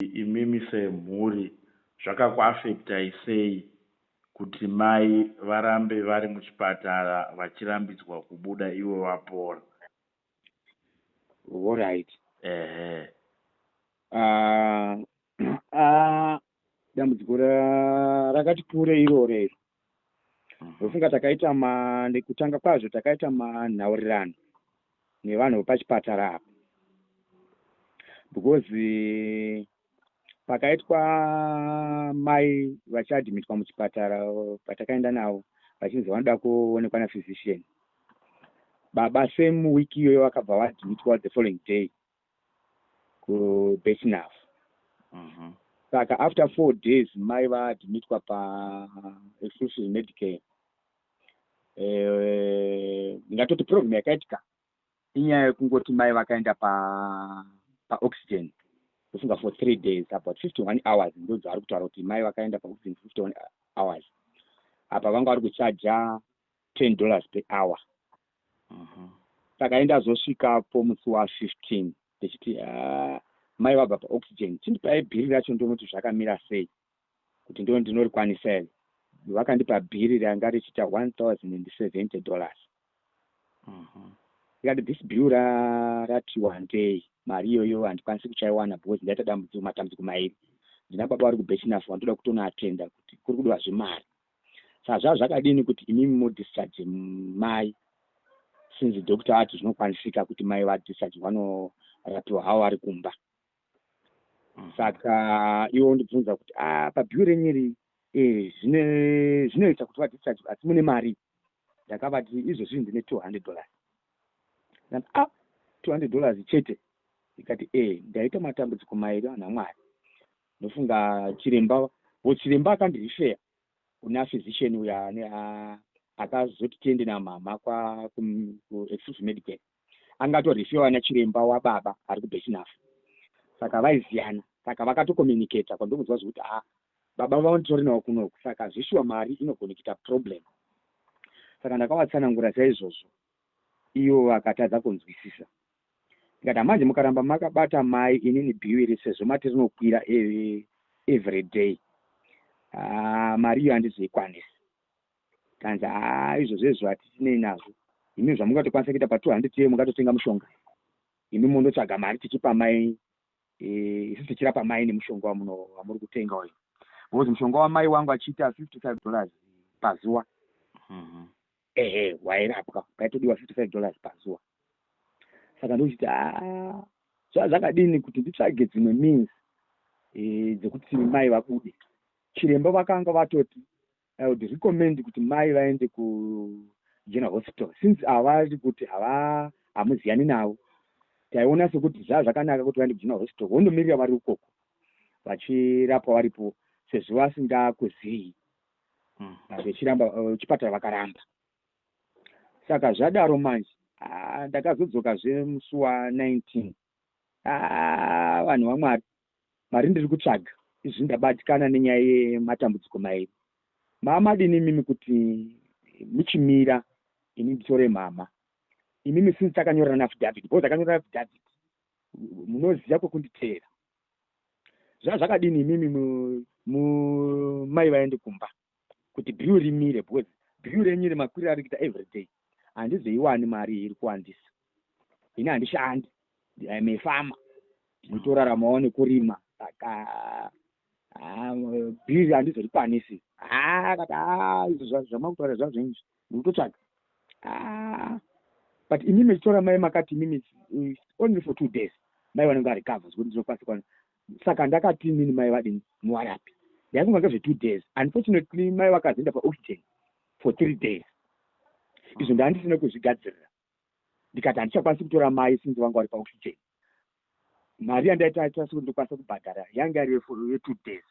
imimi semhuri zvakakuaffectai sei kuti mai varambe vari muchipatara vachirambidzwa kubuda ivo vapora. Horait. Ehe. Aah aah dambudziko rakati kure iroro iro. Mhm. ndofunga takaita ma nekutanga kwazvo takaita manhaurirano nevanhu vepachipatara apa because eh, pakaitwa mai vachiadhimitwa muchipatara patakaenda navo vachinzi vanoda kuonekwa naphysician baba same week iyoyo vakabva vaadhimitwa the following day kubetinaf mhm. saka mm -hmm. after four days mai vaadmitwa paexclusive medicare eh, ngatoti problem yakaitika inyaya yekungoti mai vakaenda pa paoxygen ndofunga for three days about fifty one hours ndodzavari kutaura kuti mai vakaenda paoxygen for fifty one hours apa vanga vari kuchaja ten dollars per hour takaenda zvosvikapo musi wa 15 ndichiti ah, mai vabva pa oxygen chindipai bhiri racho ndione kuti zvakamira sei kuti ndione ndinorikwanisa here vakandipa bhiri ranga richiita 1070 dollars mhm. ndikati this bill rati wandei mari iyoyo handikwanisi kuchaiwana because ndaita dambudziko matambudziko mairi ndina baba vari kubechinafu vandoda kutonoatenda kuti kuri kudiwa zvemari Saka zvaa zvakadini kuti imimi mu discharge mai since doctor vati zvinokwanisika kuti mai va discharge vanorapiwa havo vari kumba. Mm. Saka iwe undibvunza kuti ah pa bill renyu iri eh zvine zvinoita kuti va discharge asi mune mari. Ndakavati izvozvi ndine 200 dollars. Ndati ah 200 dollars chete. Ndikati eh ndaita matambudziko mairi vanhu vaMwari. Ndofunga chiremba wo chiremba akandirifeya kuna physician uya akazoti tiende namama kwa kuexclusive medical anga atorifewa nachiremba wababa ari kubesinafu saka vaiziyana saka vakatokomunicata kwandokunzwa zvekuti a baba vanotori nawo kunoku saka zvishuwa mari inogona kuita problem saka ndakawatsanangura saizvozvo ivo vakatadza kunzwisisa ndikati hamanje mukaramba makabata mai inini bhiwiri sezvo mati rinokwira e, everyday ah, mari iyo handizoikwanisi kanzi haa izvo zvezvo hatitinei nazvo imi zvamungatokwanisa kuita pa2 hundred yeye mungatotenga mushonga imi mondotsvaga mari tichipa mai eh, isu tichirapa mai nemushonga wamuri kutenga uyu because mushonga wamai wangu achiita fifty five dollars pazuva mm -hmm. ehe wairapwa paitodiwa 55 dollars pazuva saka ndochiti haa zvaa zvakadini kuti nditsvage dzimwe means e, dzekuti mai vabude chiremba vakanga vatoti i would recommend kuti mai vaende kugeneral hospital since avari kuti hava hamuziyani navo taiona sekuti zvaa zvakanaka kuti vaende kugeneral hospital vondomirira vari ukoko vachirapwa varipo sezvo vasingakuzivi ah, vechiramba eh, vechipatara vakaramba saka zvadaro manje ah, ndakazodzoka zve musi wa 19 ah, vanhu vamwari mari ndiri kutsvaga izvi ndabatikana nenyaya yematambudziko mairi maamadini imimi kuti muchimira ini nditore mhama imimi since takanyorana affidavit because takanyorana affidavit munoziva kwekunditeera zvaa zvakadini imimi mai vaende kumba kuti bill rimire because bill renyu remakwiriro ari kuita everyday handizoiwani mari iyi iri kuwandisa ini handishandi im a farmer nditoraramawo nekurima saka bill handizorikwanisi haa kati haa izvo zvamakutaura zvazvo inzvi Mukutotsvaga. Ah, but imi mechitora mai makati imimi only for two days mai vanenge varecover zvekuti ndinokwanisa kwana saka ndakati inini mai vadini muwarapi ndaifunga ngezve two days unfortunately mai vakazoenda paoxygen for three days izvo ndaandisina kuzvigadzirira ndikati handichakwanisi kutora mai sinzi vanga vari paoxygen mari yandaitaita sekuti ndokwanisa kubhadhara yanga yari yetwo days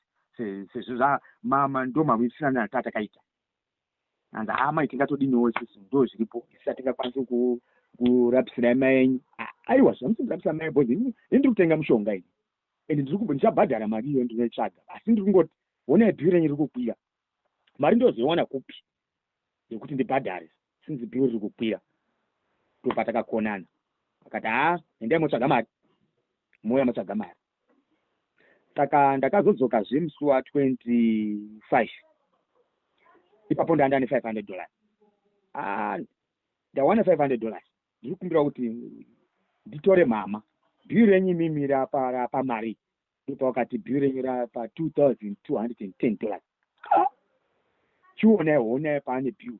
sezvo zvamama ndomamwisisana natatakaita and haa mai tingatodiniwo isusu ndo zviripo isusu hatingakwanisi kurapisirai mai enyu aiwa zvamusi ndirapisa mai bhozi ini ndiri kutenga mushonga ini and ndiri kumbo ndichabhadhara mari iyo ndinoitsvaga asi ndiri kungoti honai bhiu renyu riri kukwira mari ndozoiwana kupi yekuti ndibhadhare since bhiu riri kukwira ndopatakakonana akati haa endai motsvaga mari mouya motsvaga mari saka ndakazodzoka zve musi wa 25 ipapo ndanda ne 500 dollars ah, ndawana 500 dollars ndiri kumbira kuti nditore mama bhiu renyu mimi rapa mari ndipo wakati bhiu renyu rapa 2210 dollars ah, chiona hona paane bhiu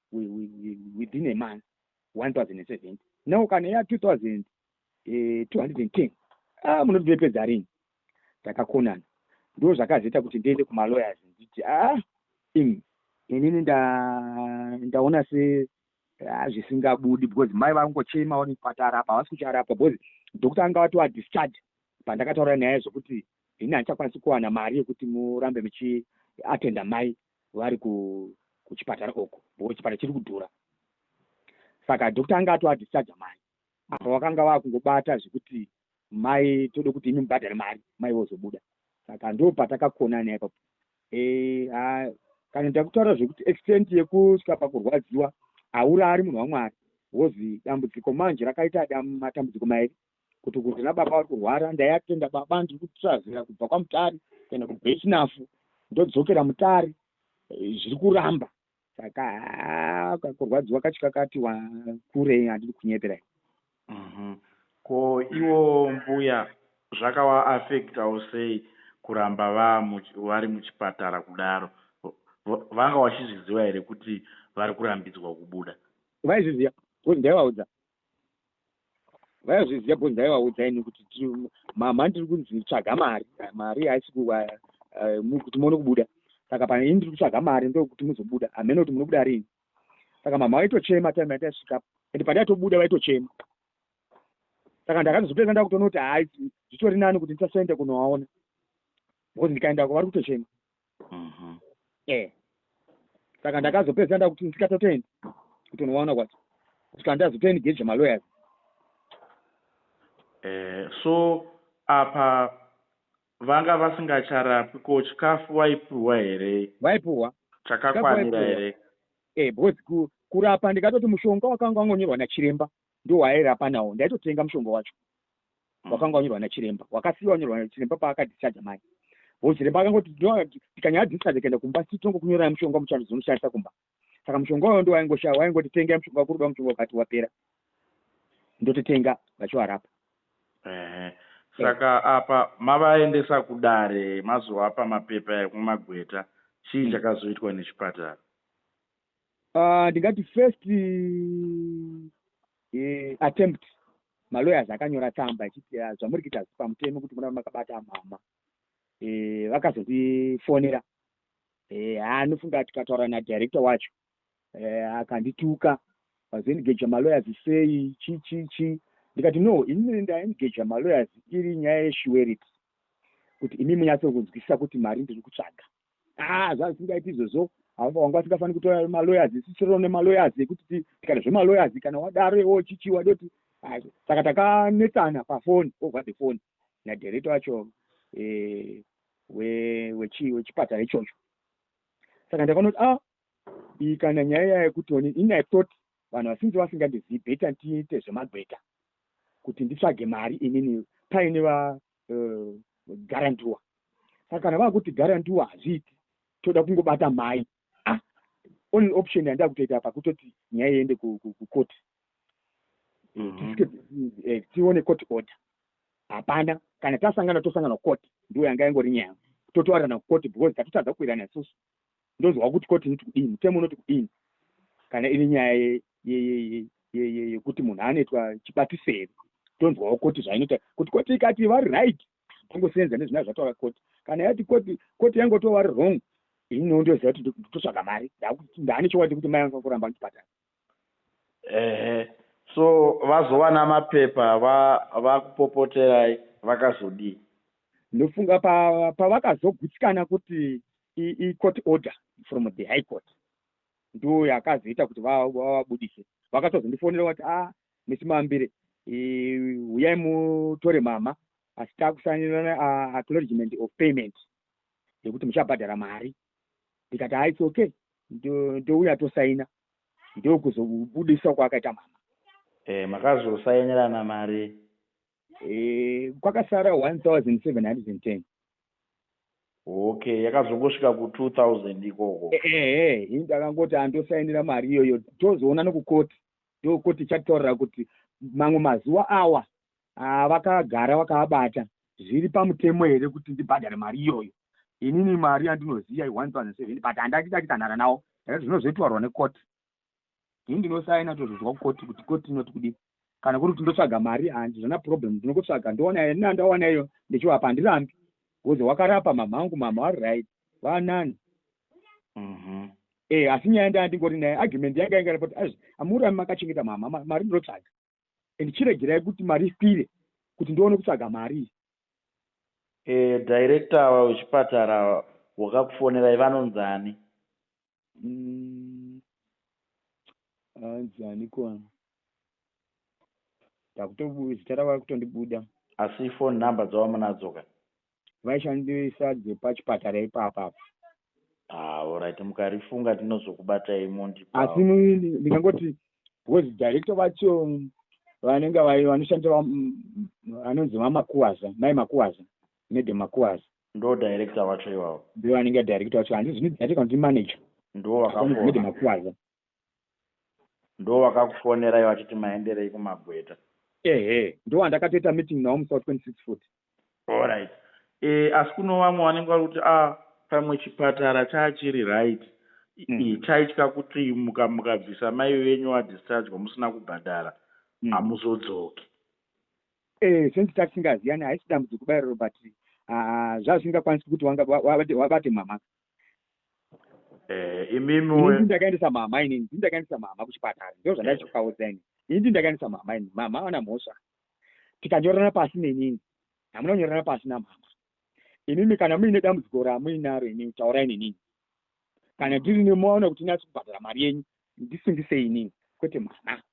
within a month 1070 now kana ya 2210 eh, ah munoti ndopedza rini takakonana ndo zvakazoita kuti ndiende kumalawyers nditi ah im inini ndaona se ah, zvisingabudi because mai vangochema vari kupatarapa havasi kucharapwa because doctor anga vati vadischarge pandakataura nyaya yezvokuti ini handichakwanisi kuwana mari yekuti murambe muchiatenda mai vari kuchipatara uko because chipatara chiri kudhura saka doctor anga atoadischarger mai apa vakanga vava kungobata zvekuti mai tode kuti imi mubhadhare mari mai vozobuda saka ndo patakakona naye papo e, kana ndakutaura zvekuti extent yekusvika pakurwadziwa aurari munhu wamwari wozi dambudziko manje rakaita matambudziko mairi kuti kunzi nababa vari kurwara ndaiatenda baba ndiri kutrazira kubva kwamutari kuenda kubechinafu ndodzokera mutari eh, zviri kuramba saka ah, kakurwadziwa kacho kakati kure handiri kunyepera mhm. ko iwo mbuya zvakavaafektawo sei kuramba vari muchipatara kudaro vanga vachizviziva here kuti vari kurambidzwa kubuda vaizviziva bcause ndaivaudza vaizviziva bho ndaivaudza ini kuti mama ndiri kunzi tsvaga mari mari haisi eh, kuti muone kubuda saka pane ini ndiri kutsvaga mari ndokuti muzobuda hamene kuti munobuda riini saka mama vaitochema time yataisvika and pandaitobuda vaitochema saka ndakazopedza ndakutoona kuti hai zvitori nani kuti ndisasoenda kunovaona because ndikaendako vari kutochema mhm. eh saka ndakazopedza ndakuti ndisikatotoenda kutonovaona kwacho kusvika ndazotoengage malawyers eh so apa vanga vasingacharapwi ko chikafu vaipuhwa here vaipuhwa chakakwanira here eh because kurapa ndikatoti mushonga wakanga wangonyorwa nachiremba ndiwo waairapa nawo ndaitotenga mushonga wacho mm. wakanga wanyorwa nachiremba wakasiiwa wanyorwa nachiremba paakadischarge mai ho chiremba akangoti tikanyaya discharge kaenda kumba sii tinongokunyorai mushonga muchando dzinonoshandisa kumba saka mushonga wayo ndo waingoshaya waingoti tengai mushonga wakuruda mushonga wakati wapera ndototenga vachiwarapa saka apa mavaendesa kudare mazovapa mapepa ekumagweta chii mm. chakazoitwa nechipatara Ah, ndingati uh, first uh, attempt malawyers akanyora tsamba achiti ah, zvamuri kuita pamutemo kuti muna makabata mama eh, vakazotifonera eh, anofunga tikataura nadirector wacho eh, akandituka vazoengaja malawyers sei chi chi chi ndikati no inini ndaengaja malawyers iri nyaya yeshuweriti kuti imi munyatsokunzwisisa kuti mari ndiri kutsvaga haa ah, zvazisingaiti izvozvo wanga asingafaniri kutora malawyers sisiro nemalawyers ekuti kana zvemalawyers kana wadaro iwo chichi wade kuti saka takanetsana pafoni over the phone nadirecto wacho eh, wechipatara ichocho saka ndakanoti a ah, iyi kana nyaya yayo yekuti oni ini i thought vanhu vasinzi vasingandizivi beta ndiite zvemagweta kuti nditsvage mari inini paine uh, garantua saka kana vakuti garantua hazviiti toda kungobata mhai ah, only option yandaa kutoita apa kutoti nyaya iende kukoti mhm. eh, tione court order hapana kana tasangana tosangana kukoti ndiwo yanga yangori nyaya totoarana kukoti because tatotadza kuirana isusu ndonzwa kuti koti niti kudii mutemo unoti kudii kana iri nyaya yekuti munhu anoitwa chibatiseri tonzwawo koti zvainoita kuti koti ikati vari right tongoseenza nezvina zvataura koti kana yati koti koti yangotovari wrong ini nondoziva kuti ndototsvaga mari ndaane chokwadi kuti mai vanga kuramba ndichipatara Ehe so vazowana mapepa vakupopoterai vakazodii. Ndofunga pavakazogutsikana kuti icourt order from the high court ndiyo yakazoita kuti vavabudise. Vakatozondifonera vati a ah, misi mambire huyai mutore mama asi takusainirana acknowledgement of payment yekuti muchabhadhara mari ndikati ha its okay ndouya tosaina ndokuzobudiswa kwaakaita mama eh, makazosainirana mari eh, kwakasara 1710 okay yakazongosvika ku 2000 ikoko ehe eh, eh, eh, ndakangoti andosainira mari iyoyo tozoona nokukoti ndokoti chataurira kuti mamwe mazuva awa Haa vakagara vakavabata zviri pamutemo here kuti ndibhadhare mari iyoyo inini mari yandinoziva i 1007 but handati takitanhara nawo eh, zvinozoitwarwa nekoti ini ndinosaina tozozwa kukoti kuti koti inoti kudii kana kuri kuti ndotsvaga mari handizvana problem ndinokutsvaga ndowana yeni nandawana iyo ndichiwapa handirambi bcoz wakarapa mama angu mama vari right vanani mhm. e eh, asi nyaya ndaa ndingori naye argument yanga yanga repoti azvi amurami makachengeta mama mari ndinotsvaga and chiregerai kuti mari ikwire kuti ndione kutsvaga mari eh, director ava wechipatara wakakufonerai vanonzi ani mm, anzi ani kona takuto zita ravo akutondibuda asi ifoni number dzavamunadzo ka vaishandisa dzepachipatara ipapa apa Ah, alright mukarifunga tinozokubatai mondipawo. asi mu- ndingangoti because director vacho vanenge vai- vanoshandisa va- m- m- vanonzi vamakuwaza mai makuwaza mede makuwaza Ndo director vacho iwawo. ndivo vanenge director vacho hanzi zvino director kuti manager Ndiwo mede vakakohwa. makuwaza Ndovakakufonerai vachiti maenderei kumagweta? Ehe ndowandakatoita meeting nawo musi wa 26 futi. Alright eh asi kuno vamwe vanenge vari kuti ah pamwe chipatara chaa chiri right ii taitya kuti muka mukabvisa mai venyu wa dischargwa musina kubhadhara hamuzodzoki. Eh since tasingaziyani haisi dambudziko kubaira Robert ah zvazvisingakwanisi kuti wanga wabate mhamha eh, imimi ini ndakaendesa mama ini ndini ndakaendesa mama kuchipatara ndo zvandaichikaudza eh. ini ini ndini ndakaendesa mama ini mama ana mhosva tikanyorana pasi nenini hamuna kunyorana pasi namama imimi kana muine dambudziko ramuinaro ini taurai nenini kana ndiri nemoaona kuti inasi kubhadhara mari yenyu ndisungise inini kwete mwana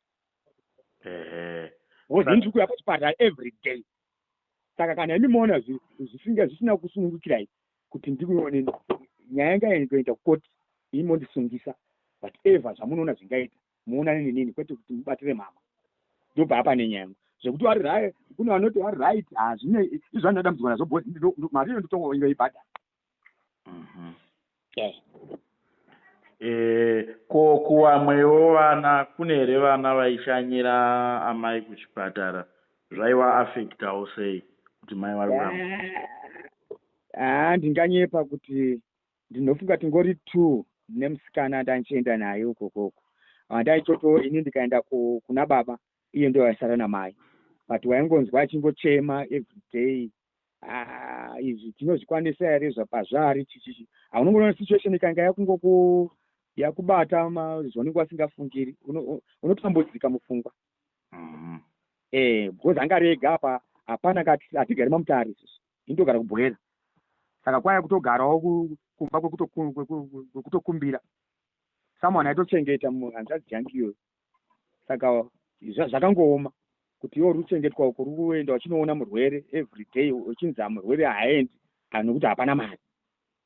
wozini tiri kuuya pachipatara every day saka kana imi moona zvisinga zvisina kusunungukirai kuti ndikuoneni nyaya yanga yaingoenda kukoti imi mondisungisa but ever zvamunoona zvingaita muonane nenini kwete kuti mubatire mama ndobva apa nenyaya yangu zvekuti wari right kune vanoti wari right hazvine izvandadambudzwa nazvo bhozi mari iyo nditoingoibhadhara Mhm. yes Eh, ko kuwamwewo vana kune here vana vaishanyira amai kuchipatara zvaiwa affectawo sei kuti mai vari kuramba Ah, ndinganyepa kuti ndinofunga tingori two nemusikana ndandichienda naye uko koko andaichoto ini ndikaenda ku- kuna baba iye ndiye waisara namai but waingonzwa achingochema everyday ah, izvi tinozvikwanisa here zvapazvaari chichichi haunongoona situation ikanga yakungoku yakubata zvaunenge wasingafungiri unotambudzika mupfungwa mm-hmm. eh, because anga rega apa hapana kati hatigari mamutare isusu indogara kubhoera saka kwaya kutogarawo kumba kwekutokumbira someone aitochengeta hanzvadzi yangu iyoyo saka zvakangooma kuti iwo ruchengetwa uko ruri kuenda uchinoona murwere every day uchinzi amurwere haaendi kana nekuti hapana mari